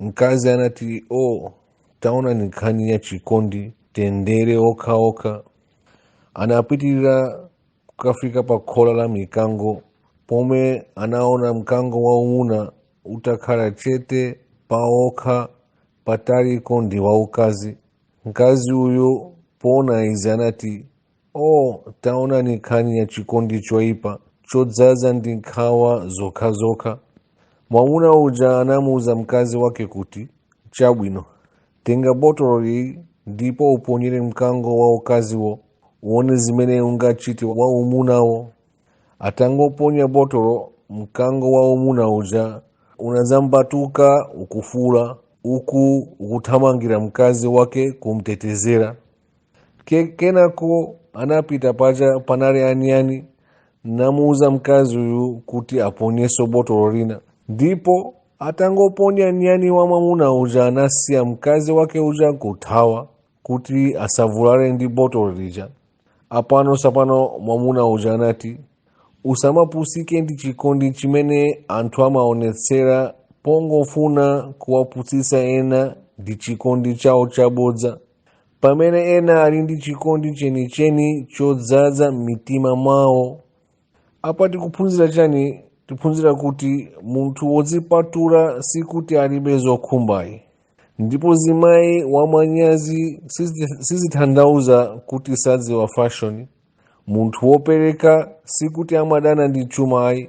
Mkazi anati o, oh, taonani nkhani ya chikondi tendere okha okha. Anapitirira kukafika pa khola la mikango pomwe anaona mkango waumuna utakhala chete paokha pataliko ndi waukazi. Mkazi uyu poona izi anati Oh, taonani nkhani ya chikondi choipa chodzaza ndi nkhawa zokhazokha. Mwamuna uja anamuuza mkazi wake kuti, Chabwino, tenga botolo ili ndipo uponyere mkango wa ukaziwo, uone zimene ungachite wa umunawo. Atangoponya botolo, mkango wa umuna uja unadzambatuka ukufuula, uku ukuthamangira mkazi wake kumtetezera. Ke, kenako anapita paja panali anyani namuuza mkazi uyu kuti aponyeso botolo lina ndipo atangoponya nyani wa mwamuna uja anasiya mkazi wake uja kuthawa kuti asavulale ndi botolo lija apa, no, so apano mwamuna uja anati usamapusike ndi chikondi chimene anthu amaonetsera pongofuna kuwapusisa ena ndi chikondi chawo chabodza pamene ena ali ndi chikondi chenicheni chodzadza m'mitima mwawo apa tikuphunzira chani tiphunzira kuti munthu wodzipatula sikuti alibe zokhumba ayi ndipo zimayi wamanyazi sizi- sizithandauza kuti sadziwa fashoni munthu wopereka sikuti amadana ndi chuma ayi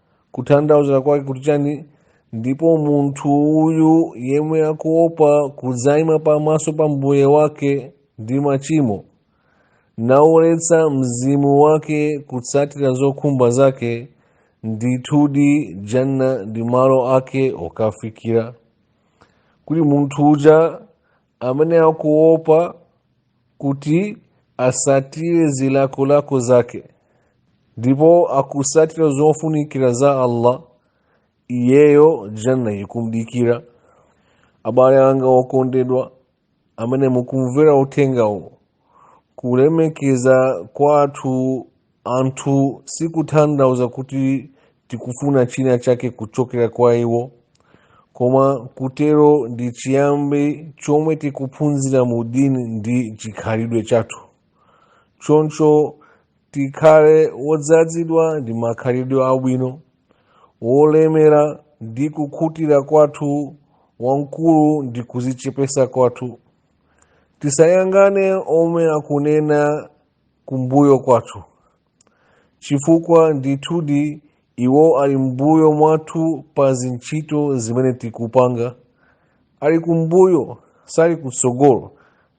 kuthandauza kwake kuti chani ndipo munthu uyu yemwe akuopa kudzaima pamaso pa mbuye wake ndi machimo naoletsa mzimu wake kutsatira zokhumba zake ndithudi janna ndi malo ake okafikira kuti munthu uja amene akuopa kuti asatire zilakolako zake ndipo akusatira zofunikira za allah iyeyo janna ikumdikira abale anga okondedwa amene mukumvera uthengawu kulemekeza kwathu anthu sikuthandauza kuti tikufuna china chake kuchokera kwa iwo koma kutero ndi chiyambi chomwe tikuphunzira mu dini ndi chikhalidwe chathu choncho tikhale wodzazidwa ndi makhalidwe abwino wolemera ndi kukhutira kwathu wamkulu ndi kuzichepesa kwathu tisayangane omwe akunena kumbuyo kwathu chifukwa ndithudi iwo ali mbuyo mwathu pa zintchito zimene tikupanga ali kumbuyo sali kutsogolo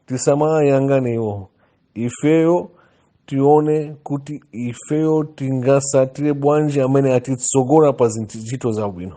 tisamayangane iwo ifeyo tione kuti ifeyo tingasatire bwanji amene atitsogola pa zintchito zabwino